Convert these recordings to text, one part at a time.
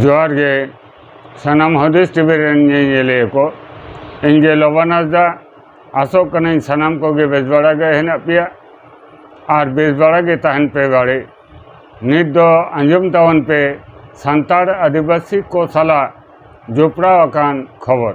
ᱡᱚᱦᱟᱨ ᱜᱮ ᱥᱟᱱᱟᱢ ᱦᱩᱫᱤᱥ ᱴᱤᱵᱷᱤ ᱨᱮᱱ ᱧᱮᱧᱮᱞᱤᱭᱟᱹ ᱠᱚ ᱤᱧ ᱜᱮ ᱞᱚᱵᱟᱱ ᱦᱟᱸᱥᱫᱟ ᱟᱥᱚᱜ ᱠᱟᱹᱱᱟᱹᱧ ᱥᱟᱱᱟᱢ ᱠᱚᱜᱮ ᱵᱮᱥ ᱵᱟᱲᱟ ᱜᱮ ᱦᱮᱱᱟᱜ ᱯᱮᱭᱟ ᱟᱨ ᱵᱮᱥ ᱵᱟᱲᱟ ᱜᱮ ᱛᱟᱦᱮᱱ ᱯᱮ ᱵᱟᱲᱮ ᱱᱤᱛ ᱫᱚ ᱟᱸᱡᱚᱢ ᱛᱟᱵᱚᱱ ᱯᱮ ᱥᱟᱱᱛᱟᱲ ᱟᱹᱫᱤᱵᱟᱹᱥᱤ ᱠᱚ ᱥᱟᱞᱟᱜ ᱡᱚᱯᱲᱟᱣ ᱟᱠᱟᱱ ᱠᱷᱚᱵᱚᱨ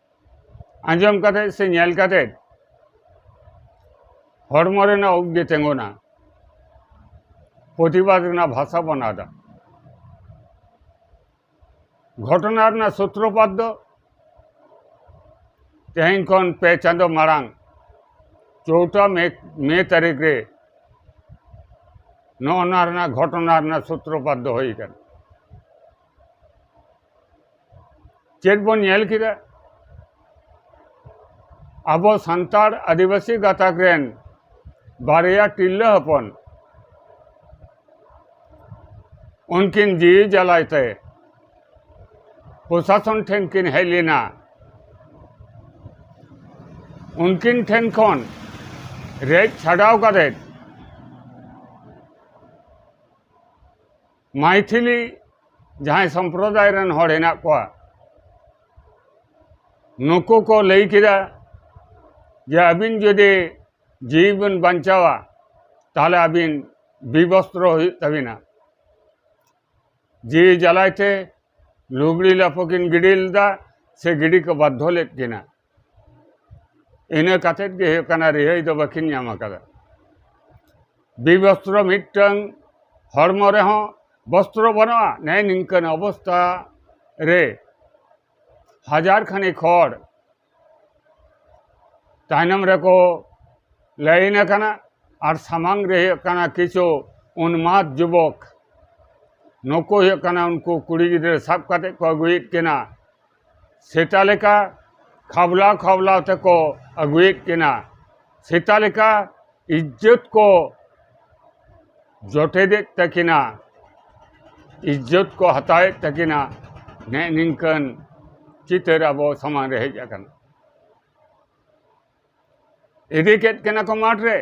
ᱟᱸᱡᱚᱢ ᱠᱟᱛᱮ ᱥᱮ ᱧᱮᱞ ᱠᱟᱛᱮ ᱦᱚᱲᱢᱚ ᱨᱮᱱᱟᱜ ᱩᱵ ᱜᱮ ᱛᱤᱸᱜᱩᱱᱟ ᱯᱨᱚᱛᱤᱵᱟᱫ ᱨᱮᱱᱟᱜ ᱵᱷᱟᱥᱟ ᱵᱚᱱ ᱟᱫᱟ ᱜᱷᱚᱴᱚᱱᱟ ᱨᱮᱱᱟᱜ ᱥᱩᱛᱨᱚᱯᱟᱛ ᱫᱚ ᱛᱮᱦᱮᱧ ᱠᱷᱚᱱ ᱯᱮ ᱪᱟᱸᱫᱚ ᱢᱟᱲᱟᱝ ᱪᱳᱣᱴᱟ ᱢᱮ ᱢᱮ ᱛᱟᱹᱨᱤᱠᱷ ᱨᱮ ᱱᱚᱜᱼᱚ ᱱᱚᱣᱟ ᱨᱮᱱᱟᱜ ᱜᱷᱚᱴᱚᱱᱟ ᱨᱮᱱᱟᱜ ᱥᱩᱛᱨᱚᱯᱟᱛ ᱫᱚ ᱦᱩᱭ ᱟᱠᱟᱱᱟ ᱪᱮᱫ ᱵᱚᱱ ᱧᱮᱞ ᱠᱮᱫᱟ ᱟᱵᱚ ᱥᱟᱱᱛᱟᱲ ᱟᱹᱫᱤᱵᱟᱹᱥᱤ ᱜᱟᱛᱟᱠ ᱨᱮᱱ ᱵᱟᱨᱭᱟ ᱛᱤᱨᱞᱟᱹ ᱦᱚᱯᱚᱱ ᱩᱱᱠᱤᱱ ᱡᱤᱣᱤ ᱡᱟᱞᱟᱭ ᱛᱮ ᱯᱨᱚᱥᱟᱥᱚᱱ ᱴᱷᱮᱱ ᱠᱤᱱ ᱦᱮᱡ ᱞᱮᱱᱟ ᱩᱱᱠᱤᱱ ᱴᱷᱮᱱ ᱠᱷᱚᱱ ᱨᱮᱡ ᱪᱷᱟᱰᱟᱣ ᱠᱟᱛᱮᱫ ᱢᱟᱭᱛᱷᱤᱞᱤ ᱡᱟᱦᱟᱸᱭ ᱥᱚᱢᱯᱨᱚᱫᱟᱭ ᱨᱮᱱ ᱦᱚᱲ ᱦᱮᱱᱟᱜ ᱠᱚᱣᱟ ᱱᱩᱠᱩ ᱠᱚ ᱞᱟᱹᱭ ᱠᱮᱫᱟ ᱡᱮ ᱟᱹᱵᱤᱱ ᱡᱩᱫᱤ ᱡᱤᱣᱤ ᱵᱤᱱ ᱵᱟᱧᱪᱟᱣᱟ ᱛᱟᱦᱚᱞᱮ ᱟᱹᱵᱤᱱ ᱵᱤᱵᱚᱥᱛᱨᱚ ᱦᱩᱭᱩᱜ ᱛᱟᱹᱵᱤᱱᱟ ᱡᱤᱣᱤ ᱡᱟᱞᱟᱭ ᱛᱮ ᱞᱩᱜᱽᱲᱤ ᱞᱟᱯᱚ ᱠᱤᱱ ᱜᱤᱰᱤ ᱞᱮᱫᱟ ᱥᱮ ᱜᱤᱰᱤ ᱠᱚ ᱵᱟᱫᱽᱫᱷᱚ ᱞᱮᱫ ᱠᱤᱱᱟ ᱤᱱᱟᱹ ᱠᱟᱛᱮᱫ ᱜᱮ ᱦᱩᱭᱩᱜ ᱠᱟᱱᱟ ᱨᱤᱦᱟᱹᱭ ᱫᱚ ᱵᱟᱹᱠᱤᱱ ᱧᱟᱢ ᱟᱠᱟᱫᱟ ᱵᱤᱵᱚᱥᱛᱨᱚ ᱢᱤᱫᱴᱟᱝ ᱦᱚᱲᱢᱚ ᱨᱮᱦᱚᱸ ᱵᱚᱥᱛᱨᱚ ᱵᱟᱹᱱᱩᱜᱼᱟ ᱱᱮ ᱱᱤᱝᱠᱟᱹᱱ ᱚᱵᱚᱥᱛᱟ ᱨᱮ ᱦᱟᱡᱟᱨ ᱠᱷᱟᱱᱮᱠ ᱦᱚᱲ ᱛᱟᱭᱱᱚᱢ ᱨᱮᱠᱚ ᱞᱟᱭᱤᱱ ᱟᱠᱟᱱᱟ ᱟᱨ ᱥᱟᱢᱟᱝ ᱨᱮ ᱦᱩᱭᱩᱜ ᱠᱟᱱᱟ ᱠᱤᱪᱷᱩ ᱩᱱᱢᱟᱫ ᱡᱩᱵᱚᱠ ᱱᱩᱠᱩ ᱦᱩᱭᱩᱜ ᱠᱟᱱᱟ ᱩᱱᱠᱩ ᱠᱩᱲᱤ ᱜᱤᱫᱽᱨᱟᱹ ᱥᱟᱵ ᱠᱟᱛᱮᱫ ᱠᱚ ᱟᱹᱜᱩᱭᱮᱫ ᱠᱤᱱᱟ ᱥᱮᱛᱟ ᱞᱮᱠᱟ ᱠᱷᱟᱵᱽᱞᱟᱣ ᱠᱷᱟᱵᱽᱞᱟᱣ ᱛᱮᱠᱚ ᱟᱹᱜᱩᱭᱮᱫ ᱠᱤᱱᱟ ᱥᱮᱛᱟ ᱞᱮᱠᱟ ᱤᱡᱽᱡᱚᱛ ᱠᱚ ᱡᱚᱴᱮᱫᱮᱫ ᱛᱟᱹᱠᱤᱱᱟ ᱤᱡᱽᱡᱚᱛ ᱠᱚ ᱦᱟᱛᱟᱣᱮᱫ ᱛᱟᱹᱠᱤᱱᱟ ᱱᱮᱜ ᱱᱤᱝᱠᱟᱹᱱ ᱪᱤᱛᱟᱹᱨ ᱟᱵᱚ ᱥᱟᱢᱟᱝ ᱨᱮ ᱦᱮᱡ ᱟᱠᱟᱱᱟ ᱤᱫᱤ ᱠᱮᱫ ᱠᱤᱱᱟ ᱠᱚ ᱢᱟᱴᱷ ᱨᱮ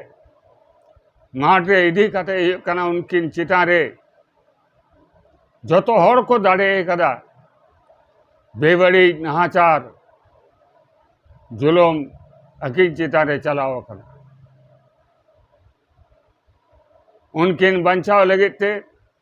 ᱢᱟᱴᱷ ᱨᱮ ᱤᱫᱤ ᱠᱟᱛᱮ ᱦᱩᱭᱩᱜ ᱠᱟᱱᱟ ᱩᱱᱠᱤᱱ ᱪᱮᱛᱟᱱ ᱨᱮ ᱡᱚᱛᱚ ᱦᱚᱲ ᱠᱚ ᱫᱟᱲᱮ ᱠᱟᱫᱟ ᱵᱮᱵᱟᱹᱲᱤᱡ ᱱᱟᱦᱟᱪᱟᱨ ᱡᱩᱞᱩᱢ ᱟᱹᱠᱤᱱ ᱪᱮᱛᱟᱱ ᱨᱮ ᱪᱟᱞᱟᱣ ᱟᱠᱟᱱᱟ ᱩᱱᱠᱤᱱ ᱵᱟᱧᱪᱟᱣ ᱞᱟᱹᱜᱤᱫ ᱛᱮ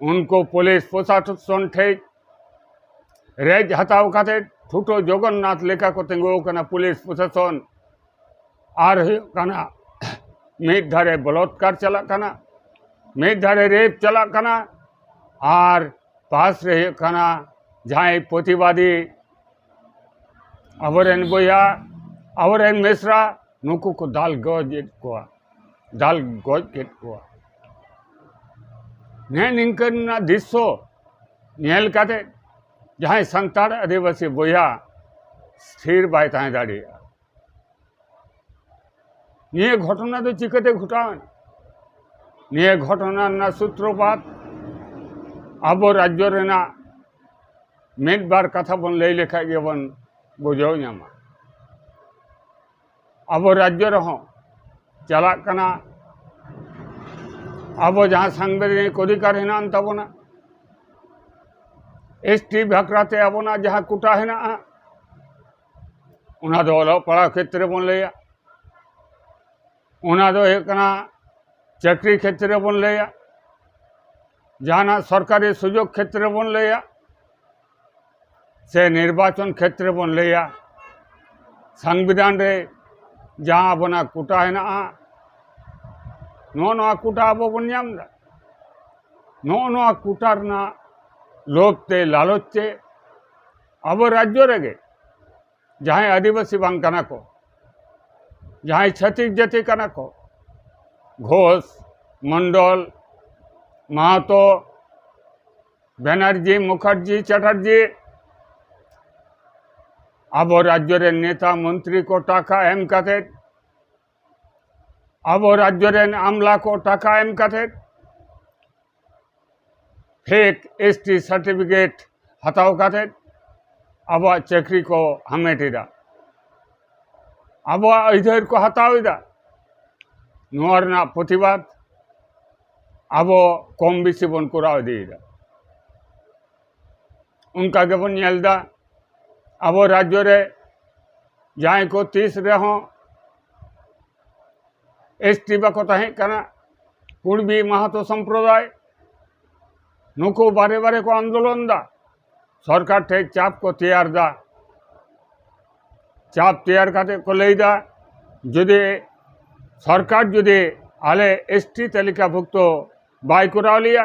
ᱩᱱᱠᱩ ᱯᱩᱞᱤᱥ ᱯᱨᱚᱥᱟᱥᱚᱱ ᱴᱷᱮᱡ ᱨᱮᱡ ᱦᱟᱛᱟᱣ ᱠᱟᱛᱮ ᱴᱷᱩᱴᱚ ᱡᱚᱜᱚᱱᱱᱟᱛᱷ ᱞᱮᱠᱟ ᱠᱚ ᱛᱤᱸᱜᱩ ᱟᱠᱟᱱᱟ ᱯᱩᱞᱤᱥ ᱯᱨᱚᱥᱟᱥᱚᱱ ᱟᱨ ᱦᱩᱭᱩᱜ ᱠᱟᱱᱟ ᱢᱤᱫ ᱫᱷᱟᱨᱮ ᱵᱚᱞᱚᱛᱠᱟᱨ ᱪᱟᱞᱟᱜ ᱠᱟᱱᱟ ᱢᱤᱫ ᱫᱷᱟᱨᱮ ᱨᱮᱯ ᱪᱟᱞᱟᱜ ᱠᱟᱱᱟ ᱟᱨ ᱯᱟᱥ ᱨᱮ ᱦᱩᱭᱩᱜ ᱠᱟᱱᱟ ᱡᱟᱦᱟᱸᱭ ᱯᱨᱚᱛᱤᱵᱟᱫᱤ ᱟᱵᱚ ᱨᱮᱱ ᱵᱚᱭᱦᱟ ᱟᱵᱚ ᱨᱮᱱ ᱢᱤᱥᱨᱟ ᱱᱩᱠᱩ ᱠᱚ ᱫᱟᱞ ᱜᱚᱡᱮᱫ ᱠᱚᱣᱟ ᱫᱟᱞ ᱜᱚᱡ ᱠᱮᱫ ᱠᱚᱣᱟ ᱱᱮᱜ ᱱᱤᱝᱠᱟᱹᱱᱟᱜ ᱫᱨᱤᱥᱥᱚ ᱧᱮᱞ ᱠᱟᱛᱮ ᱡᱟᱦᱟᱸᱭ ᱥᱟᱱᱛᱟᱲ ᱟᱹᱫᱤᱵᱟᱹᱥᱤ ᱵᱚᱭᱦᱟ ᱛᱷᱤᱨ ᱵᱟᱭ ᱛᱟᱦᱮᱸ ᱫᱟᱲᱮᱭᱟᱜᱼᱟ ᱱᱤᱭᱟᱹ ᱜᱷᱚᱴᱚᱱᱟ ᱫᱚ ᱪᱤᱠᱟᱹᱛᱮ ᱜᱷᱚᱴᱟᱣᱮᱱ ᱱᱤᱭᱟᱹ ᱜᱷᱚᱴᱚᱱᱟ ᱨᱮᱱᱟᱜ ᱥᱩᱛᱨᱚᱯᱟᱛ ᱟᱵᱚ ᱨᱟᱡᱽᱡᱚ ᱨᱮᱱᱟᱜ ᱢᱤᱫ ᱵᱟᱨ ᱠᱟᱛᱷᱟ ᱵᱚᱱ ᱞᱟᱹᱭ ᱞᱮᱠᱷᱟᱡ ᱜᱮᱵᱚᱱ ᱵᱩᱡᱷᱟᱹᱣ ᱧᱟᱢᱟ ᱟᱵᱚ ᱨᱟᱡᱽᱡᱚ ᱨᱮᱦᱚᱸ ᱪᱟᱞᱟᱜ ᱠᱟᱱᱟ ᱟᱵᱚ ᱡᱟᱦᱟᱸ ᱥᱟᱝᱵᱤᱫᱷᱟᱱᱤᱠ ᱚᱫᱷᱤᱠᱟᱨ ᱦᱮᱱᱟᱜ ᱟᱱ ᱛᱟᱵᱚᱱᱟ ᱮᱥ ᱴᱤ ᱵᱷᱟᱠᱨᱟᱛᱮ ᱟᱵᱚᱱᱟᱜ ᱡᱟᱦᱟᱸ ᱠᱳᱴᱟ ᱦᱮᱱᱟᱜᱼᱟ ᱚᱱᱟ ᱫᱚ ᱚᱞᱚᱜ ᱯᱟᱲᱦᱟᱣ ᱠᱷᱮᱛᱨᱮ ᱵᱚᱱ ᱞᱟᱹᱭᱟ ᱚᱱᱟ ᱫᱚ ᱦᱩᱭᱩᱜ ᱠᱟᱱᱟ ᱪᱟᱹᱠᱨᱤ ᱠᱷᱮᱛᱨᱮ ᱵᱚᱱ ᱞᱟᱹᱭᱟ ᱡᱟᱦᱟᱱᱟᱜ ᱥᱚᱨᱠᱟᱨᱤ ᱥᱩᱡᱳᱜᱽ ᱠᱷᱮᱛᱨᱮ ᱵᱚᱱ ᱞᱟᱹᱭᱟ ᱥᱮ ᱱᱤᱨᱵᱟᱪᱚᱱ ᱠᱷᱮᱛᱨᱮ ᱵᱚᱱ ᱞᱟᱹᱭᱟ ᱥᱟᱝᱵᱤᱫᱷᱟᱱ ᱨᱮ ᱡᱟᱦᱟᱸ ᱟᱵᱚᱱᱟᱜ ᱠᱳᱴᱟ ᱦᱮᱱᱟᱜᱼᱟ ᱱᱚᱜᱼᱚ ᱱᱚᱣᱟ ᱠᱳᱴᱟ ᱟᱵᱚ ᱵᱚᱱ ᱧᱟᱢ ᱮᱫᱟ ᱱᱚᱜᱼᱚ ᱱᱚᱣᱟ ᱠᱳᱴᱟ ᱨᱮᱱᱟᱜ ᱞᱳᱵᱷ ᱛᱮ ᱞᱟᱞᱚᱪ ᱛᱮ ᱟᱵᱚ ᱨᱟᱡᱽᱡᱚ ᱨᱮᱜᱮ ᱡᱟᱦᱟᱸᱭ ᱟᱹᱫᱤᱵᱟᱹᱥᱤ ᱵᱟᱝ ᱠᱟᱱᱟ ᱠᱚ ᱡᱟᱦᱟᱸᱭ ᱪᱷᱟᱹᱛᱤᱠ ᱡᱟᱹᱛᱤ ᱠᱟᱱᱟ ᱠᱚ ᱜᱷᱳᱥ ᱢᱚᱱᱰᱚᱞ ᱢᱟᱦᱟᱛᱚ ᱵᱮᱱᱟᱨᱡᱤ ᱢᱩᱠᱷᱟᱨᱡᱤ ᱪᱟᱴᱟᱨᱡᱤ ᱟᱵᱚ ᱨᱟᱡᱽᱡᱚ ᱨᱮᱱ ᱱᱮᱛᱟ ᱢᱚᱱᱛᱨᱤ ᱠᱚ ᱴᱟᱠᱟ ᱮᱢ ᱠᱟᱛᱮᱫ ᱟᱵᱚ ᱨᱟᱡᱽᱡᱚ ᱨᱮᱱ ᱟᱢᱞᱟ ᱠᱚ ᱴᱟᱠᱟ ᱮᱢ ᱠᱟᱛᱮᱫ ᱯᱷᱮᱠ ᱮᱥ ᱴᱤ ᱥᱟᱨᱴᱤᱯᱷᱤᱠᱮᱴ ᱦᱟᱛᱟᱣ ᱠᱟᱛᱮᱫ ᱟᱵᱚᱣᱟᱜ ᱪᱟᱹᱠᱨᱤ ᱠᱚ ᱦᱟᱢᱮᱴ ᱮᱫᱟ ᱟᱵᱚᱣᱟᱜ ᱟᱹᱭᱫᱟᱹᱨ ᱠᱚ ᱦᱟᱛᱟᱣ ᱮᱫᱟ ᱱᱚᱣᱟ ᱨᱮᱱᱟᱜ ᱯᱨᱚᱛᱤᱵᱟᱫ ᱟᱵᱚ ᱠᱚᱢ ᱵᱮᱥᱤ ᱵᱚᱱ ᱠᱚᱨᱟᱣ ᱤᱫᱤᱭᱮᱫᱟ ᱚᱱᱠᱟ ᱜᱮᱵᱚᱱ ᱧᱮᱞ ᱮᱫᱟ ᱟᱵᱚ ᱨᱟᱡᱽᱡᱚ ᱨᱮ ᱡᱟᱦᱟᱸᱭ ᱠᱚ ᱛᱤᱥ ᱨᱮᱦᱚᱸ ᱮᱥ ᱴᱤ ᱵᱟᱠᱚ ᱛᱟᱦᱮᱸ ᱠᱟᱱᱟ ᱠᱩᱲᱵᱤ ᱢᱟᱦᱟᱛᱚ ᱥᱚᱢᱯᱨᱚᱫᱟᱭ ᱱᱩᱠᱩ ᱵᱟᱨᱮ ᱵᱟᱨᱮ ᱠᱚ ᱟᱱᱫᱳᱞᱚᱱ ᱮᱫᱟ ᱥᱚᱨᱠᱟᱨ ᱴᱷᱮᱱ ᱪᱟᱯ ᱠᱚ ᱛᱮᱭᱟᱨ ᱮᱫᱟ ᱪᱟᱯ ᱛᱮᱭᱟᱨ ᱠᱟᱛᱮ ᱠᱚ ᱞᱟᱹᱭ ᱮᱫᱟ ᱡᱩᱫᱤ ᱥᱚᱨᱠᱟᱨ ᱡᱩᱫᱤ ᱟᱞᱮ ᱮᱥ ᱴᱤ ᱛᱟᱹᱞᱤᱠᱟᱵᱷᱩᱠᱛᱚ ᱵᱟᱭ ᱠᱚᱨᱟᱣ ᱞᱮᱭᱟ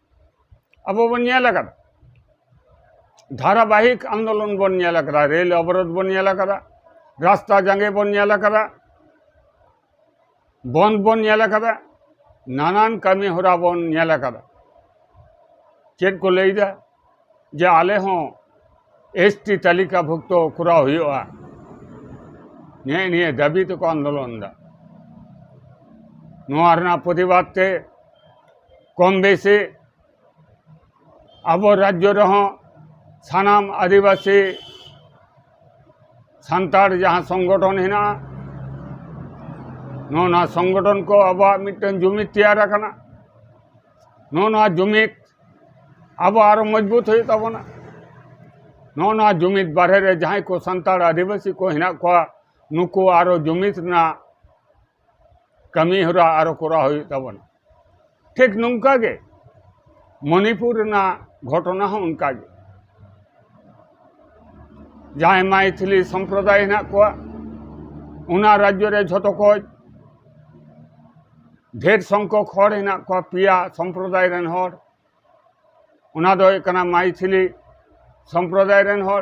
ᱟᱵᱚ ᱵᱚᱱ ᱧᱮᱞ ᱟᱠᱟᱫᱟ ᱫᱷᱟᱨᱟᱵᱟᱦᱤᱠ ᱟᱱᱫᱳᱞᱚᱱ ᱵᱚᱱ ᱧᱮᱞ ᱟᱠᱟᱫᱟ ᱨᱮᱞ ᱚᱵᱚᱨᱳᱫᱷ ᱵᱚᱱ ᱧᱮᱞ ᱟᱠᱟᱫᱟ ᱨᱟᱥᱛᱟ ᱡᱟᱸᱜᱮ ᱵᱚᱱ ᱧᱮᱞ ᱟᱠᱟᱫᱟ ᱵᱚᱱᱫ ᱵᱚᱱ ᱧᱮᱞ ᱟᱠᱟᱫᱟ ᱱᱟᱱᱟᱱ ᱠᱟᱹᱢᱤ ᱦᱚᱨᱟ ᱵᱚᱱ ᱧᱮᱞ ᱟᱠᱟᱫᱟ ᱪᱮᱫ ᱠᱚ ᱞᱟᱹᱭᱫᱟ ᱡᱮ ᱟᱞᱮ ᱦᱚᱸ ᱮᱥ ᱴᱤ ᱛᱟᱹᱞᱤᱠᱟ ᱵᱷᱩᱠᱛᱚ ᱠᱚᱨᱟᱣ ᱦᱩᱭᱩᱜᱼᱟ ᱱᱮᱜᱼᱮ ᱱᱤᱭᱟᱹ ᱫᱟᱹᱵᱤ ᱛᱮᱠᱚ ᱟᱱᱫᱳᱞᱚᱱ ᱮᱫᱟ ᱱᱚᱣᱟ ᱨᱮᱱᱟᱜ ᱯᱨᱚᱛᱤᱵᱟᱫ ᱛᱮ ᱠᱚᱢ ᱵᱮᱥᱤ ᱟᱵᱚ ᱨᱟᱡᱽᱡᱚ ᱨᱮᱦᱚᱸ ᱥᱟᱱᱟᱢ ᱟᱹᱫᱤᱵᱟᱹᱥᱤ ᱥᱟᱱᱛᱟᱲ ᱡᱟᱦᱟᱸ ᱥᱚᱝᱜᱚᱴᱷᱚᱱ ᱦᱮᱱᱟᱜᱼᱟ ᱱᱚᱣᱟ ᱥᱚᱝᱜᱚᱴᱷᱚᱱ ᱠᱚ ᱟᱵᱚᱣᱟᱜ ᱢᱤᱫᱴᱟᱝ ᱡᱩᱢᱤᱫ ᱛᱮᱭᱟᱨ ᱟᱠᱟᱱᱟ ᱱᱚᱜᱼᱚ ᱱᱚᱣᱟ ᱡᱩᱢᱤᱫ ᱟᱵᱚ ᱟᱨᱚ ᱢᱚᱡᱽᱵᱩᱛ ᱦᱩᱭᱩᱜ ᱛᱟᱵᱚᱱᱟ ᱱᱚᱜᱼᱚ ᱱᱚᱣᱟ ᱡᱩᱢᱤᱫ ᱵᱟᱨᱦᱮ ᱨᱮ ᱡᱟᱦᱟᱸᱭ ᱠᱚ ᱥᱟᱱᱛᱟᱲ ᱟᱹᱫᱤᱵᱟᱹᱥᱤ ᱠᱚ ᱦᱮᱱᱟᱜ ᱠᱚᱣᱟ ᱱᱩᱠᱩ ᱟᱨᱚ ᱡᱩᱢᱤᱫ ᱨᱮᱱᱟᱜ ᱠᱟᱹᱢᱤ ᱦᱚᱨᱟ ᱟᱨᱚ ᱠᱚᱨᱟᱣ ᱦᱩᱭᱩᱜ ᱛᱟᱵᱚᱱᱟ ᱴᱷᱤᱠ ᱱᱚᱝᱠᱟ ᱜᱮ ᱢᱚᱱᱤᱯᱩᱨ ᱨᱮᱱᱟᱜ ᱜᱷᱚᱴᱚᱱᱟ ᱦᱚᱸ ᱚᱱᱠᱟ ᱜᱮ ᱡᱟᱦᱟᱸᱭ ᱢᱟᱭᱛᱷᱤᱞᱤ ᱥᱚᱢᱯᱨᱚᱫᱟᱭ ᱦᱮᱱᱟᱜ ᱠᱚᱣᱟ ᱚᱱᱟ ᱨᱟᱡᱽᱡᱚ ᱨᱮ ᱡᱷᱚᱛᱚ ᱠᱷᱚᱡ ᱰᱷᱮᱨ ᱥᱚᱝᱠᱷᱚᱠ ᱦᱚᱲ ᱦᱮᱱᱟᱜ ᱠᱚᱣᱟ ᱯᱮᱭᱟ ᱥᱚᱢᱯᱨᱚᱫᱟᱭ ᱨᱮᱱ ᱦᱚᱲ ᱚᱱᱟ ᱫᱚ ᱦᱩᱭᱩᱜ ᱠᱟᱱᱟ ᱢᱟᱭᱛᱷᱤᱞᱤ ᱥᱚᱢᱯᱨᱚᱫᱟᱭ ᱨᱮᱱ ᱦᱚᱲ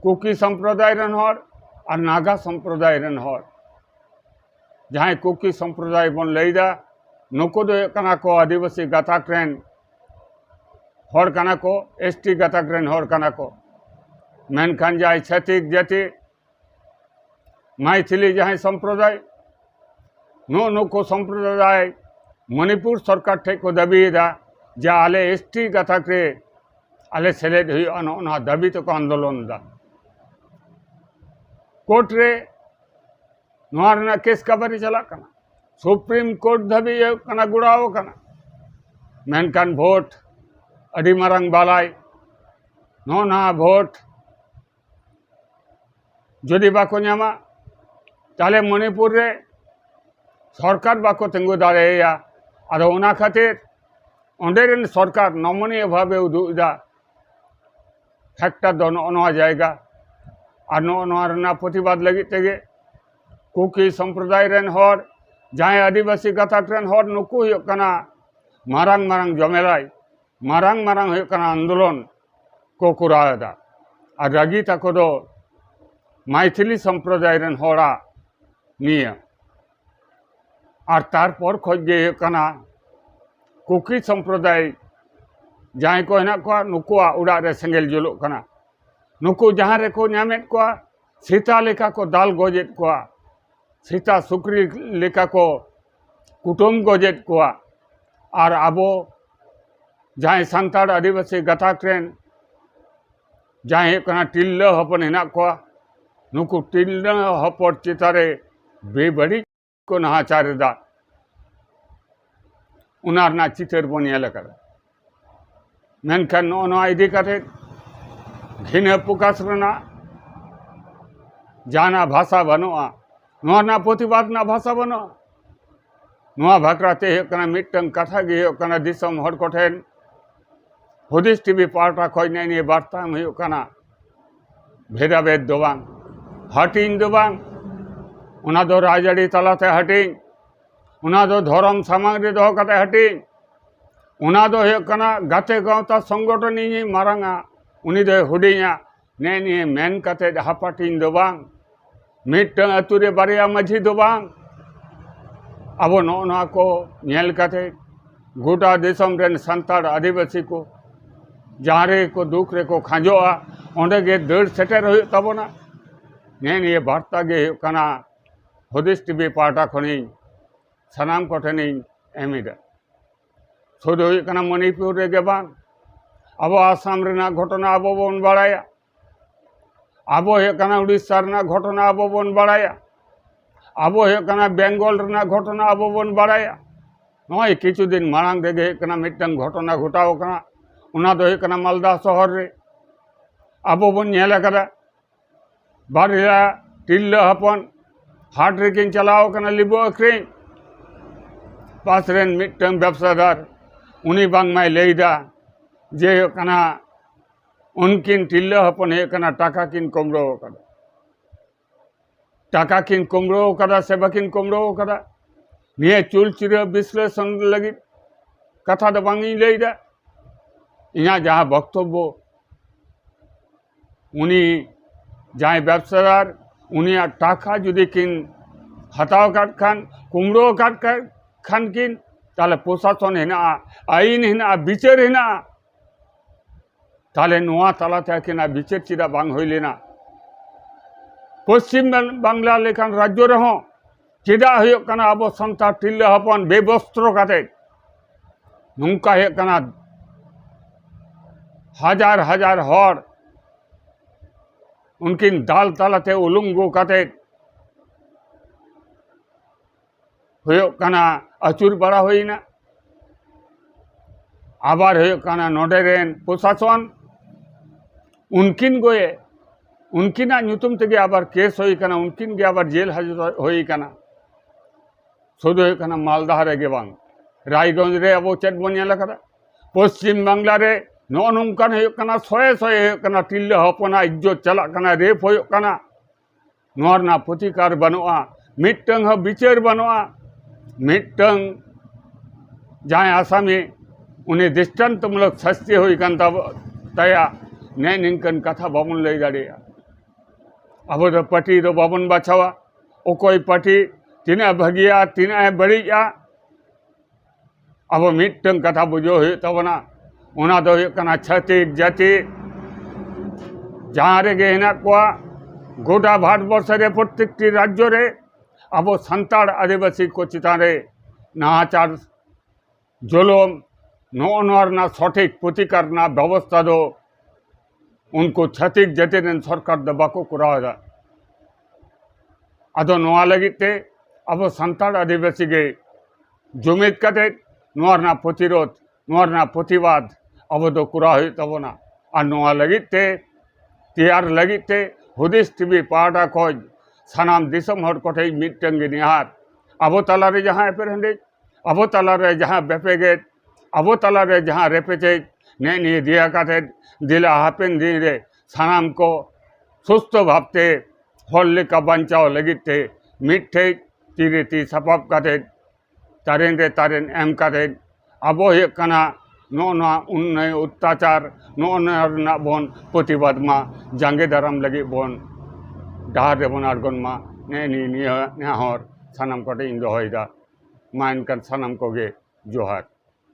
ᱠᱩᱠᱤ ᱥᱚᱢᱯᱨᱚᱫᱟᱭ ᱨᱮᱱ ᱦᱚᱲ ᱟᱨ ᱱᱟᱜᱟ ᱥᱚᱢᱯᱨᱚᱫᱟᱭ ᱨᱮᱱ ᱦᱚᱲ ᱡᱟᱦᱟᱸᱭ ᱠᱩᱠᱤ ᱥᱚᱢᱯᱨᱚᱫᱟᱭ ᱵᱚᱱ ᱞᱟᱹᱭᱫᱟ ᱱᱩᱠᱩ ᱫᱚ ᱦᱩᱭᱩᱜ ᱠᱟᱱᱟ ᱠᱚ ᱟᱹᱫᱤᱵᱟᱹᱥᱤ ᱜᱟᱛᱟᱠ ᱨᱮᱱ ᱦᱚᱲ ᱠᱟᱱᱟ ᱠᱚ ᱮᱥ ᱴᱤ ᱜᱟᱛᱟᱠ ᱨᱮᱱ ᱦᱚᱲ ᱠᱟᱱᱟ ᱠᱚ ᱢᱮᱱᱠᱷᱟᱱ ᱡᱟᱦᱟᱸᱭ ᱪᱷᱟᱹᱛᱤᱠ ᱡᱟᱹᱛᱤ ᱢᱟᱭᱛᱷᱤᱞᱤ ᱡᱟᱦᱟᱸᱭ ᱥᱚᱢᱯᱨᱚᱫᱟᱭ ᱱᱩᱜ ᱱᱩᱠᱩ ᱥᱚᱢᱯᱨᱚᱫᱟᱭ ᱢᱚᱱᱤᱯᱩᱨ ᱥᱚᱨᱠᱟᱨ ᱴᱷᱮᱡ ᱠᱚ ᱫᱟᱹᱵᱤᱭᱮᱫᱟ ᱡᱮ ᱟᱞᱮ ᱮᱥ ᱴᱤ ᱜᱟᱛᱟᱠ ᱨᱮ ᱟᱞᱮ ᱥᱮᱞᱮᱫ ᱦᱩᱭᱩᱜᱼᱟ ᱱᱚᱜᱼᱚ ᱱᱚᱣᱟ ᱫᱟᱹᱵᱤ ᱛᱮᱠᱚ ᱟᱱᱫᱳᱞᱚᱱ ᱮᱫᱟ ᱠᱳᱨᱴ ᱨᱮ ᱱᱚᱣᱟ ᱨᱮᱱᱟᱜ ᱠᱮᱥ ᱠᱟᱵᱟᱨᱤ ᱪᱟᱞᱟᱜ ᱠᱟᱱᱟ ᱥᱩᱯᱨᱤᱢ ᱠᱳᱨᱴ ᱫᱷᱟᱹᱵᱤᱡ ᱦᱩᱭᱩᱜ ᱠᱟᱱᱟ ᱜᱚᱲᱟᱣ ᱠᱟᱱᱟ ᱢᱮᱱᱠᱷᱟᱱ ᱵᱷᱳᱴ ᱟᱹᱰᱤ ᱢᱟᱨᱟᱝ ᱵᱟᱞᱟᱭ ᱱᱚᱜᱼᱚ ᱱᱚᱣᱟ ᱵᱷᱳᱴ ᱡᱩᱫᱤ ᱵᱟᱠᱚ ᱧᱟᱢᱟ ᱛᱟᱦᱚᱞᱮ ᱢᱚᱱᱤᱯᱩᱨ ᱨᱮ ᱥᱚᱨᱠᱟᱨ ᱵᱟᱠᱚ ᱛᱤᱸᱜᱩ ᱫᱟᱲᱮᱭᱟᱭᱟ ᱟᱫᱚ ᱚᱱᱟ ᱠᱷᱟᱹᱛᱤᱨ ᱚᱸᱰᱮ ᱨᱮᱱ ᱥᱚᱨᱠᱟᱨ ᱱᱚᱢᱚᱱᱤᱭᱟᱹ ᱵᱷᱟᱵᱮ ᱩᱫᱩᱜ ᱮᱫᱟ ᱯᱷᱮᱠᱴᱟᱨ ᱫᱚ ᱱᱚᱜᱼᱚ ᱱᱚᱣᱟ ᱡᱟᱭᱜᱟ ᱟᱨ ᱱᱚᱜᱼᱚ ᱱᱚᱣᱟ ᱨᱮᱱᱟᱜ ᱯᱨᱚᱛᱤᱵᱟᱫ ᱞᱟᱹᱜᱤᱫ ᱛᱮᱜᱮ ᱠᱩᱠᱤ ᱥᱚᱢᱯᱨᱚᱫᱟᱭ ᱨᱮᱱ ᱦᱚᱲ ᱡᱟᱦᱟᱸᱭ ᱟᱹᱫᱤᱵᱟᱹᱥᱤ ᱜᱟᱛᱟᱠ ᱨᱮᱱ ᱦᱚᱲ ᱱᱩᱠᱩ ᱦᱩᱭᱩᱜ ᱠᱟᱱᱟ ᱢᱟᱨᱟᱝ ᱢᱟᱨᱟᱝ ᱡᱚᱢᱮᱞᱟᱭ ᱢᱟᱨᱟᱝ ᱢᱟᱨᱟᱝ ᱦᱩᱭᱩᱜ ᱠᱟᱱᱟ ᱟᱱᱫᱳᱞᱚᱱ ᱠᱚ ᱠᱚᱨᱟᱣ ᱮᱫᱟ ᱟᱨ ᱨᱟᱹᱜᱤ ᱛᱟᱠᱚ ᱫᱚ ᱢᱟᱭᱛᱷᱤᱞᱤ ᱥᱚᱢᱯᱨᱚᱫᱟᱭ ᱨᱮᱱ ᱦᱚᱲᱟᱜ ᱱᱤᱭᱟᱹ ᱟᱨ ᱛᱟᱨᱯᱚᱨ ᱠᱷᱚᱡ ᱜᱮ ᱦᱩᱭᱩᱜ ᱠᱟᱱᱟ ᱠᱩᱠᱤ ᱥᱚᱢᱯᱨᱚᱫᱟᱭ ᱡᱟᱦᱟᱸᱭ ᱠᱚ ᱦᱮᱱᱟᱜ ᱠᱚᱣᱟ ᱱᱩᱠᱩᱣᱟᱜ ᱚᱲᱟᱜ ᱨᱮ ᱥᱮᱸᱜᱮᱞ ᱡᱩᱞᱩᱜ ᱠᱟᱱᱟ ᱱᱩᱠᱩ ᱡᱟᱦᱟᱸ ᱨᱮᱠᱚ ᱧᱟᱢᱮᱫ ᱠᱚᱣᱟ ᱥᱮᱛᱟ ᱞᱮᱠᱟ ᱠᱚ ᱫᱟᱞ ᱜᱚᱡᱮᱫ ᱠᱚᱣᱟ ᱥᱮᱛᱟ ᱥᱩᱠᱨᱤ ᱞᱮᱠᱟ ᱠᱚ ᱠᱩᱴᱟᱹᱢ ᱜᱚᱡᱮᱫ ᱠᱚᱣᱟ ᱟᱨ ᱟᱵᱚ ᱡᱟᱦᱟᱸᱭ ᱥᱟᱱᱛᱟᱲ ᱟᱹᱫᱤᱵᱟᱹᱥᱤ ᱜᱟᱛᱟᱠ ᱨᱮᱱ ᱡᱟᱦᱟᱸᱭ ᱦᱩᱭᱩᱜ ᱠᱟᱱᱟ ᱛᱤᱨᱞᱟᱹ ᱦᱚᱯᱚᱱ ᱦᱮᱱᱟᱜ ᱠᱚᱣᱟ ᱱᱩᱠᱩ ᱛᱤᱨᱞᱟᱹ ᱦᱚᱯᱚᱱ ᱪᱮᱛᱟᱱ ᱨᱮ ᱵᱮᱵᱟᱹᱲᱤᱡ ᱠᱚ ᱱᱟᱦᱟᱪᱟᱨ ᱮᱫᱟ ᱚᱱᱟ ᱨᱮᱱᱟᱜ ᱪᱤᱛᱟᱹᱨ ᱵᱚᱱ ᱧᱮᱞ ᱟᱠᱟᱫᱟ ᱢᱮᱱᱠᱷᱟᱱ ᱱᱚᱜᱼᱚ ᱱᱚᱣᱟ ᱤᱫᱤ ᱠᱟᱛᱮ ᱜᱷᱤᱱᱟᱹ ᱯᱨᱚᱠᱟᱥ ᱨᱮᱱᱟᱜ ᱡᱟᱦᱟᱱᱟᱜ ᱵᱷᱟᱥᱟ ᱵᱟᱹᱱᱩᱜᱼᱟ ᱱᱚᱣᱟ ᱨᱮᱱᱟᱜ ᱯᱨᱚᱛᱤᱵᱟᱫ ᱨᱮᱱᱟᱜ ᱵᱷᱟᱥᱟ ᱵᱟᱹᱱᱩᱜᱼᱟ ᱱᱚᱣᱟ ᱵᱷᱟᱠᱨᱟᱛᱮ ᱦᱩᱭᱩᱜ ᱠᱟᱱᱟ ᱢᱤᱫᱴᱟᱝ ᱠᱟᱛᱷᱟ ᱜᱮ ᱦᱩᱭᱩᱜ ᱠᱟᱱᱟ ᱫᱤᱥᱚᱢ ᱦᱚᱲ ᱠᱚᱴᱷᱮᱱ ᱦᱩᱫᱤᱥ ᱴᱤᱵᱷᱤ ᱯᱟᱦᱴᱟ ᱠᱷᱚᱱ ᱱᱮᱜᱼᱮ ᱱᱤᱭᱟᱹ ᱵᱟᱨᱛᱟ ᱮᱢ ᱦᱩᱭᱩᱜ ᱠᱟᱱᱟ ᱵᱷᱮᱫᱟ ᱵᱷᱮᱫ ᱫᱚ ᱵᱟᱝ ᱦᱟᱹᱴᱤᱧ ᱫᱚ ᱵᱟᱝ ᱚᱱᱟ ᱫᱚ ᱨᱟᱡᱽᱟᱹᱨᱤ ᱛᱟᱞᱟᱛᱮ ᱦᱟᱹᱴᱤᱧ ᱚᱱᱟ ᱫᱚ ᱫᱷᱚᱨᱚᱢ ᱥᱟᱢᱟᱝ ᱨᱮ ᱫᱚᱦᱚ ᱠᱟᱛᱮ ᱦᱟᱹᱴᱤᱧ ᱚᱱᱟ ᱫᱚ ᱦᱩᱭᱩᱜ ᱠᱟᱱᱟ ᱜᱟᱛᱮ ᱜᱟᱶᱛᱟ ᱥᱚᱝᱜᱚᱴᱷᱚᱱ ᱤᱧᱤᱧ ᱢᱟᱨᱟᱝᱟ ᱩᱱᱤ ᱫᱚᱭ ᱦᱩᱰᱤᱧᱟ ᱱᱮ ᱱᱤᱭᱟᱹ ᱢᱮᱱ ᱠᱟᱛᱮ ᱦᱟᱯᱟᱴᱤᱧ ᱫᱚ ᱵᱟᱝ ᱢᱤᱫᱴᱟᱝ ᱟᱛᱳ ᱨᱮ ᱵᱟᱨᱭᱟ ᱢᱟᱹᱡᱷᱤ ᱫᱚ ᱵᱟᱝ ᱟᱵᱚ ᱱᱚᱜᱼᱚ ᱱᱚᱣᱟ ᱠᱚ ᱧᱮᱞ ᱠᱟᱛᱮ ᱜᱚᱴᱟ ᱫᱤᱥᱚᱢ ᱨᱮᱱ ᱥᱟᱱᱛᱟᱲ ᱟᱹᱫᱤᱵᱟᱹᱥᱤ ᱠᱚ ᱡᱟᱦᱟᱸ ᱨᱮᱠᱚ ᱫᱩᱠ ᱨᱮᱠᱚ ᱠᱷᱟᱸᱡᱚᱜᱼᱟ ᱚᱸᱰᱮ ᱜᱮ ᱫᱟᱹᱲ ᱥᱮᱴᱮᱨ ᱦᱩᱭᱩᱜ ᱛᱟᱵᱚᱱᱟ ᱱᱮ ᱱᱤᱭᱟᱹ ᱵᱟᱨᱛᱟ ᱜᱮ ᱦᱩᱭᱩᱜ ᱠᱟᱱᱟ ᱦᱩᱫᱤᱥ ᱴᱤᱵᱷᱤ ᱯᱟᱦᱴᱟ ᱠᱷᱚᱱᱤᱧ ᱥᱟᱱᱟᱢ ᱠᱚᱴᱷᱮᱱᱤᱧ ᱮᱢ ᱮᱫᱟ ᱥᱩᱫᱩ ᱦᱩᱭᱩᱜ ᱠᱟᱱᱟ ᱢᱚᱱᱤᱯᱩᱨ ᱨᱮᱜᱮ ᱵᱟᱝ ᱟᱵᱚ ᱟᱥᱟᱢ ᱨᱮᱱᱟᱜ ᱜᱷᱚᱴᱚᱱᱟ ᱟᱵᱚ ᱵᱚᱱ ᱵᱟᱲᱟᱭᱟ ᱟᱵᱚ ᱦᱩᱭᱩᱜ ᱠᱟᱱᱟ ᱩᱲᱤᱥᱥᱟ ᱨᱮᱱᱟᱜ ᱜᱷᱚᱴᱚᱱᱟ ᱟᱵᱚ ᱵᱚᱱ ᱵᱟᱲᱟᱭᱟ ᱟᱵᱚ ᱦᱩᱭᱩᱜ ᱠᱟᱱᱟ ᱵᱮᱝᱜᱚᱞ ᱨᱮᱱᱟᱜ ᱜᱷᱚᱴᱚᱱᱟ ᱟᱵᱚ ᱵᱚᱱ ᱵᱟᱲᱟᱭᱟ ᱱᱚᱜᱼᱚᱭ ᱠᱤᱪᱷᱩ ᱫᱤᱱ ᱢᱟᱲᱟᱝ ᱨᱮᱜᱮ ᱦᱩᱭᱩᱜ ᱠᱟᱱᱟ ᱢᱤᱫᱴᱟᱝ ᱜᱷᱚᱴᱚᱱᱟ ᱜᱷᱚᱴᱟᱣ ᱠᱟᱱᱟ ᱚᱱᱟ ᱫᱚ ᱦᱩᱭᱩᱜ ᱠᱟᱱᱟ ᱢᱟᱞᱫᱟ ᱥᱚᱦᱚᱨ ᱨᱮ ᱟᱵᱚ ᱵᱚᱱ ᱧᱮᱞ ᱟᱠᱟᱫᱟ ᱵᱟᱨᱭᱟ ᱛᱤᱨᱞᱟᱹ ᱦᱚᱯᱚᱱ ᱦᱟᱴ ᱨᱮᱠᱤᱱ ᱪᱟᱞᱟᱣ ᱠᱟᱱᱟ ᱞᱤᱵᱩ ᱟᱹᱠᱷᱨᱤᱧ ᱯᱟᱥ ᱨᱮᱱ ᱢᱤᱫᱴᱟᱝ ᱵᱮᱵᱽᱥᱟᱫᱟᱨ ᱩᱱᱤ ᱵᱟᱝᱢᱟᱭ ᱞᱟᱹᱭᱫᱟ ᱡᱮ ᱦᱩᱭᱩᱜ ᱠᱟᱱᱟ ᱩᱱᱠᱤᱱ ᱛᱤᱨᱞᱟᱹ ᱦᱚᱯᱚᱱ ᱦᱩᱭᱩᱜ ᱠᱟᱱᱟ ᱴᱟᱠᱟ ᱠᱤᱱ ᱠᱩᱢᱲᱳ ᱟᱠᱟᱫᱟ ᱴᱟᱠᱟ ᱠᱤᱱ ᱠᱩᱢᱲᱳ ᱟᱠᱟᱫᱟ ᱥᱮ ᱵᱟᱹᱠᱤᱱ ᱠᱩᱢᱲᱳ ᱟᱠᱟᱫᱟ ᱱᱤᱭᱟᱹ ᱪᱩᱞᱪᱤᱨᱟᱹ ᱵᱤᱥᱞᱮᱥᱚᱱ ᱞᱟᱹᱜᱤᱫ ᱠᱟᱛᱷᱟ ᱫᱚ ᱵᱟᱝ ᱤᱧ ᱞᱟᱹᱭᱫᱟ ᱤᱧᱟᱹᱜ ᱡᱟᱦᱟᱸ ᱵᱚᱠᱛᱚᱵᱵᱚ ᱩᱱᱤ ᱡᱟᱦᱟᱸᱭ ᱵᱮᱵᱽᱥᱟᱫᱟᱨ ᱩᱱᱤᱭᱟᱜ ᱴᱟᱠᱟ ᱡᱩᱫᱤ ᱠᱤᱱ ᱦᱟᱛᱟᱣ ᱟᱠᱟᱫ ᱠᱷᱟᱱ ᱠᱩᱢᱲᱩ ᱟᱠᱟᱫ ᱠᱷᱟᱱ ᱠᱤᱱ ᱛᱟᱦᱚᱞᱮ ᱯᱨᱚᱥᱟᱥᱚᱱ ᱦᱮᱱᱟᱜᱼᱟ ᱟᱹᱭᱤᱱ ᱦᱮᱱᱟᱜᱼᱟ ᱵᱤᱪᱟᱹᱨ ᱦᱮᱱᱟᱜᱼᱟ ᱛᱟᱦᱚᱞᱮ ᱱᱚᱣᱟ ᱛᱟᱞᱟᱛᱮ ᱟᱹᱠᱤᱱᱟᱜ ᱵᱤᱪᱟᱹᱨ ᱪᱮᱫᱟᱜ ᱵᱟᱝ ᱦᱩᱭ ᱞᱮᱱᱟ ᱯᱚᱥᱪᱤᱢ ᱵᱟᱝᱞᱟ ᱞᱮᱠᱟᱱ ᱨᱟᱡᱽᱡᱚ ᱨᱮᱦᱚᱸ ᱪᱮᱫᱟᱜ ᱦᱩᱭᱩᱜ ᱠᱟᱱᱟ ᱟᱵᱚ ᱥᱟᱱᱛᱟᱲ ᱛᱤᱨᱞᱟᱹ ᱦᱚᱯᱚᱱ ᱵᱮᱵᱚᱥᱛᱨᱚ ᱠᱟᱛᱮ ᱱᱚᱝᱠᱟ ᱦᱩᱭᱩᱜ ᱠᱟᱱᱟ ᱦᱟᱡᱟᱨ ᱦᱟᱡᱟᱨ ᱦᱚᱲ ᱩᱱᱠᱤᱱ ᱫᱟᱞ ᱛᱟᱞᱟᱛᱮ ᱩᱞᱩᱝᱜᱩ ᱠᱟᱛᱮ ᱦᱩᱭᱩᱜ ᱠᱟᱱᱟ ᱟᱹᱪᱩᱨ ᱵᱟᱲᱟ ᱦᱩᱭᱱᱟ ᱟᱵᱟᱨ ᱦᱩᱭᱩᱜ ᱠᱟᱱᱟ ᱱᱚᱰᱮ ᱨᱮᱱ ᱯᱨᱚᱥᱟᱥᱚᱱ ᱩᱱᱠᱤᱱ ᱜᱚᱭᱮ ᱩᱱᱠᱤᱱᱟᱜ ᱧᱩᱛᱩᱢ ᱛᱮᱜᱮ ᱟᱵᱟᱨ ᱠᱮᱥ ᱦᱩᱭ ᱠᱟᱱᱟ ᱩᱱᱠᱤᱱ ᱜᱮ ᱟᱵᱟᱨ ᱡᱮᱞ ᱦᱟᱡᱚᱛ ᱦᱩᱭ ᱠᱟᱱᱟ ᱥᱩᱫᱷᱩ ᱦᱩᱭᱩᱜ ᱠᱟᱱᱟ ᱢᱟᱞᱫᱟ ᱨᱮᱜᱮ ᱵᱟᱝ ᱨᱟᱭᱜᱚᱸᱡᱽ ᱨᱮ ᱟᱵᱚ ᱪᱮᱫ ᱵᱚᱱ ᱧᱮᱞ ᱟᱠᱟᱫᱟ ᱯᱚᱥᱪᱤᱢ ᱵᱟᱝᱞᱟ ᱨᱮ ᱱᱚᱜᱼᱚ ᱱᱚᱝᱠᱟᱱ ᱦᱩᱭᱩᱜ ᱠᱟᱱᱟ ᱥᱚᱭᱮ ᱥᱚᱭᱮ ᱦᱩᱭᱩᱜ ᱠᱟᱱᱟ ᱛᱤᱨᱞᱟᱹ ᱦᱚᱯᱚᱱᱟᱜ ᱤᱡᱽᱡᱚᱛ ᱪᱟᱞᱟᱜ ᱠᱟᱱᱟ ᱨᱮᱯ ᱦᱩᱭᱩᱜ ᱠᱟᱱᱟ ᱱᱚᱣᱟ ᱨᱮᱱᱟᱜ ᱯᱨᱚᱛᱤᱠᱟᱨ ᱵᱟᱹᱱᱩᱜᱼᱟ ᱢᱤᱫᱴᱟᱹᱝ ᱦᱚᱸ ᱵᱤᱪᱟᱹᱨ ᱵᱟᱹᱱᱩᱜᱼᱟ ᱢᱤᱫᱴᱟᱹᱝ ᱡᱟᱦᱟᱸᱭ ᱟᱥᱟᱢᱤ ᱩᱱᱤ ᱫᱨᱤᱥᱴᱟᱱᱛᱚᱢᱩᱞᱚᱠ ᱥᱟᱥᱛᱤ ᱦᱩᱭ ᱠᱟᱱ ᱛᱟᱵᱚ ᱛᱟᱭᱟ ᱱᱮ ᱱᱤᱝᱠᱟᱹᱱ ᱠᱟᱛᱷᱟ ᱵᱟᱵᱚᱱ ᱞᱟᱹᱭ ᱫᱟᱲᱮᱭᱟᱜᱼᱟ ᱟᱵᱚ ᱫᱚ ᱯᱟᱹᱴᱤ ᱫᱚ ᱵᱟᱵᱚᱱ ᱵᱟᱪᱷᱟᱣᱟ ᱚᱠᱚᱭ ᱯᱟᱹᱴᱤ ᱛᱤᱱᱟᱹᱜ ᱮ ᱵᱷᱟᱹᱜᱤᱭᱟ ᱛᱤᱱᱟᱹᱜ ᱮ ᱵᱟᱹᱲᱤᱡᱼᱟ ᱟᱵᱚ ᱢᱤᱫᱴᱟᱹᱝ ᱠᱟᱛᱷᱟ ᱵᱩᱡᱷᱟᱹᱣ ᱦᱩᱭᱩᱜ ᱛᱟᱵᱚᱱᱟ ᱚᱱᱟ ᱫᱚ ᱦᱩᱭᱩᱜ ᱠᱟᱱᱟ ᱪᱷᱟᱹᱛᱤᱠ ᱡᱟᱹᱛᱤ ᱡᱟᱦᱟᱸ ᱨᱮᱜᱮ ᱦᱮᱱᱟᱜ ᱠᱚᱣᱟ ᱜᱚᱴᱟ ᱵᱷᱟᱨᱚᱛ ᱵᱚᱨᱥᱚ ᱨᱮ ᱯᱨᱚᱛᱮᱠᱴᱤ ᱨᱟᱡᱽᱡᱚ ᱨᱮ ᱟᱵᱚ ᱥᱟᱱᱛᱟᱲ ᱟᱹᱫᱤᱵᱟᱹᱥᱤ ᱠᱚ ᱪᱮᱛᱟᱱ ᱨᱮ ᱱᱟᱦᱟᱪᱟᱨ ᱡᱩᱞᱩᱢ ᱱᱚᱜᱼᱚ ᱱᱚᱣᱟ ᱨᱮᱱᱟᱜ ᱥᱚᱴᱷᱤᱠ ᱯᱨᱚᱛᱤᱠᱟᱨ ᱨᱮᱱᱟᱜ ᱵᱮᱵᱚᱥᱛᱷᱟ ᱫᱚ ᱩᱱᱠᱩ ᱪᱷᱟᱹᱛᱤᱠ ᱡᱟᱹᱛᱤ ᱨᱮᱱ ᱥᱚᱨᱠᱟᱨ ᱫᱚ ᱵᱟᱠᱚ ᱠᱚᱨᱟᱣ ᱮᱫᱟ ᱟᱫᱚ ᱱᱚᱣᱟ ᱞᱟᱹᱜᱤᱫ ᱛᱮ ᱟᱵᱚ ᱥᱟᱱᱛᱟᱲ ᱟᱹᱫᱤᱵᱟᱹᱥᱤ ᱜᱮ ᱡᱩᱢᱤᱫ ᱠᱟᱛᱮ ᱱᱚᱣᱟ ᱨᱮᱱᱟᱜ ᱯᱨᱚᱛᱤᱨᱳᱫ ᱱᱚᱣᱟ ᱨᱮᱱᱟᱜ ᱯᱨᱚᱛᱤᱵᱟᱫ ᱟᱵᱚ ᱫᱚ ᱠᱚᱨᱟᱣ ᱦᱩᱭᱩᱜ ᱛᱟᱵᱚᱱᱟ ᱟᱨ ᱱᱚᱣᱟ ᱞᱟᱹᱜᱤᱫ ᱛᱮ ᱛᱮᱭᱟᱨ ᱞᱟᱹᱜᱤᱫ ᱛᱮ ᱦᱩᱫᱤᱥ ᱴᱤᱵᱷᱤ ᱯᱟᱦᱴᱟ ᱠᱷᱚᱱ ᱥᱟᱱᱟᱢ ᱫᱤᱥᱚᱢ ᱦᱚᱲ ᱠᱚᱴᱷᱮᱱ ᱢᱤᱫᱴᱟᱝ ᱜᱮ ᱱᱮᱦᱟᱨ ᱟᱵᱚ ᱛᱟᱞᱟᱨᱮ ᱡᱟᱦᱟᱸ ᱮᱯᱮᱨᱦᱮᱸᱰᱮᱡ ᱟᱵᱚ ᱛᱟᱞᱟᱨᱮ ᱡᱟᱦᱟᱸ ᱵᱮᱯᱮᱜᱮᱫ ᱟᱵᱚ ᱛᱟᱞᱟᱨᱮ ᱡᱟᱦᱟᱸ ᱨᱮᱯᱮᱪᱮᱡ ᱱᱮᱜ ᱱᱤᱭᱟᱹ ᱫᱮᱭᱟ ᱠᱟᱛᱮ ᱫᱮᱞᱟ ᱦᱟᱯᱮᱱ ᱫᱤᱱ ᱨᱮ ᱥᱟᱱᱟᱢ ᱠᱚ ᱥᱩᱥᱛᱷᱚ ᱵᱷᱟᱵᱛᱮ ᱦᱚᱲ ᱞᱮᱠᱟ ᱵᱟᱧᱪᱟᱣ ᱞᱟᱹᱜᱤᱫ ᱛᱮ ᱢᱤᱫ ᱴᱷᱮᱡ ᱛᱤ ᱨᱮ ᱛᱤ ᱥᱟᱯᱟᱯ ᱠᱟᱛᱮ ᱛᱟᱨᱮᱱ ᱨᱮ ᱛᱟᱨᱮᱱ ᱮᱢ ᱠᱟᱛᱮ ᱟᱵᱚ ᱦᱩᱭᱩᱜ ᱠᱟᱱᱟ ᱱᱚᱜᱼᱚ ᱱᱚᱣᱟ ᱚᱱᱱᱟᱭ ᱚᱛᱛᱟᱪᱟᱨ ᱱᱚᱜᱼᱚ ᱱᱚᱣᱟ ᱨᱮᱱᱟᱜ ᱵᱚᱱ ᱯᱨᱚᱛᱤᱵᱟᱫᱽ ᱢᱟ ᱡᱟᱸᱜᱮ ᱫᱟᱨᱟᱢ ᱞᱟᱹᱜᱤᱫ ᱵᱚᱱ ᱰᱟᱦᱟᱨ ᱨᱮᱵᱚᱱ ᱟᱬᱜᱚᱱ ᱢᱟ ᱱᱮᱜᱼᱮ ᱱᱤᱭᱟᱹ ᱱᱤᱭᱟᱹ ᱱᱮᱦᱚᱨ ᱥᱟᱱᱟᱢ ᱠᱚᱴᱷᱮᱱ ᱤᱧ ᱫᱚᱦᱚᱭᱮᱫᱟ ᱢᱟ ᱮᱱᱠᱷᱟᱱ ᱥᱟᱱᱟᱢ ᱠᱚᱜᱮ ᱡᱚᱦᱟᱨ